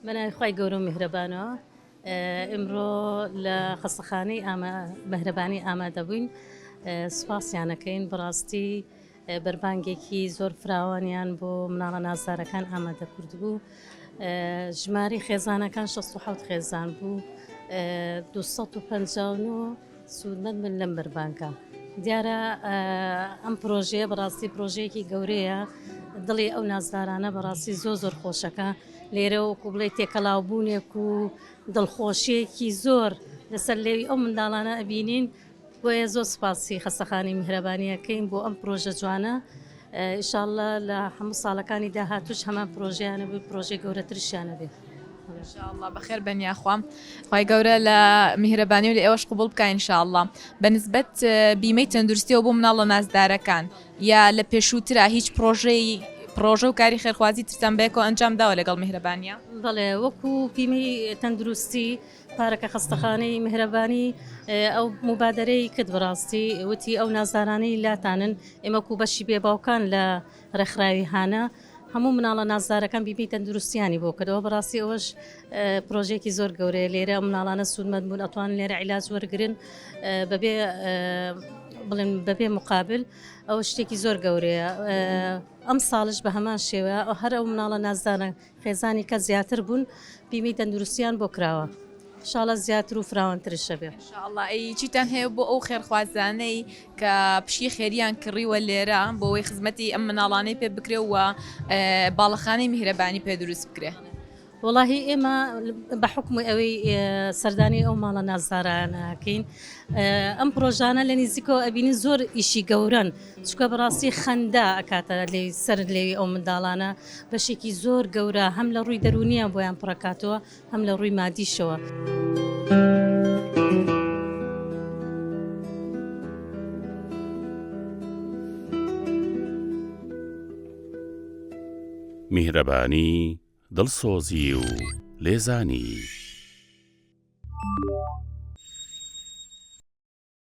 بەناوی خوای گەورە و میهرەبانەوە ئمڕۆ لە خەستەخانەی ئامە مەهرەبانی ئامادەبووین سوپاسیانەکەین بڕاستی بەربانگێکی زۆر فراوانیان بۆ مناڵە نازدارەکان ئامادە کرد بوو ژماری خێزانەکان 16 خێزان بوو 250 سوودمەند بن لەم بەربانکە. دیارە ئەم پرۆژەیە بەڕاستی پرۆژەیەکی گەورەیە دڵی ئەو نازدارانە بەڕاستی زۆر زۆر خۆشەکە لێرە وەکو بڵێ تێکەڵاوبوونێک و دڵخۆشیەکی زۆر لەسەر لێوی ئەو منداڵانە ئەبینین بۆیە زۆر سپاسی خەستەخانی میهرەبانیەکەین بۆ ئەم پرۆژە جوانە ان شاء اللە لە هەموو ساڵەکانی داهاتووش هەمان پرۆژەیانە بێ پرۆژەی گەورەترشیانە بێ. ان شاء اللە بەخێر بن یاخوا خی گەورە لە میهرەبانی و لە ئێوەش قوبول بکە ان شاء اللە بە نسبەت بیمەی تەندروستیەوە بۆ مناڵە نازدارەکان یا لە پێشووترا هیچ پرۆژەی پرۆژە و کاری خێرخوازی ترتان بێکۆ ئەنجام داوە لەگەڵ میهرەبانە بەڵێ وەکو پیمی تەندروستی پارەکە خەستەخانەی میهرەبانی ئەو موبادەرەی کرد بەڕاستی وتی ئەو نازدارانەی لاتانن ئێمە کو بەشی بێ باوکان لە ڕێکخراوی هانا هەموو مناڵە نازدارەکان بیبی تەندروستیانی بۆ کردەوە بەڕاستی ئەوەش پرۆژێکی زۆر گەورەیە لێرە مناڵانە سوودمەند بوون ئەتوان لێرە عیلاج وەرگن بەبێ بڵێن بەبێ مقابل ئەو شتێکی زۆر گەورەیە ئەم ساڵش بە هەمان شێوە ئەو هەر ئەو مناڵە نازدانە خێزانی کەس زیاتر بوون بیمی تەندروستیان بۆ کراوە شاڵە زیاتر و فراوانترشە بێ. شاءاللە ئەی چیتان هەیە بۆ ئەو خێرخوازانەی کە پشکی خێریان کڕیوە لێرە بۆوەی خزمەتی ئەم مناڵانەی پێ بکرێ و باڵەخانەی میهرەبانی پێ دروست بکرێ. وەڵاهی ئێمە بە حکومی ئەوەی سەردانی ئەو ماڵە نازدارانەکەین ئەم پرۆژانە لە نیزیکەوە ئەبینین زۆر ئیشی گەورەن. چونکە بەڕاستی خەندە ئەکاتە لێی سەرت لێوی ئەو منداڵانە بەشێکی زۆر گەورە هەم لە ڕووی دەرونیان بۆیان پڕەکاتەوە هەم لە ڕووی مادیشەوە. میهرەبانی دڵسۆزی و لێزانی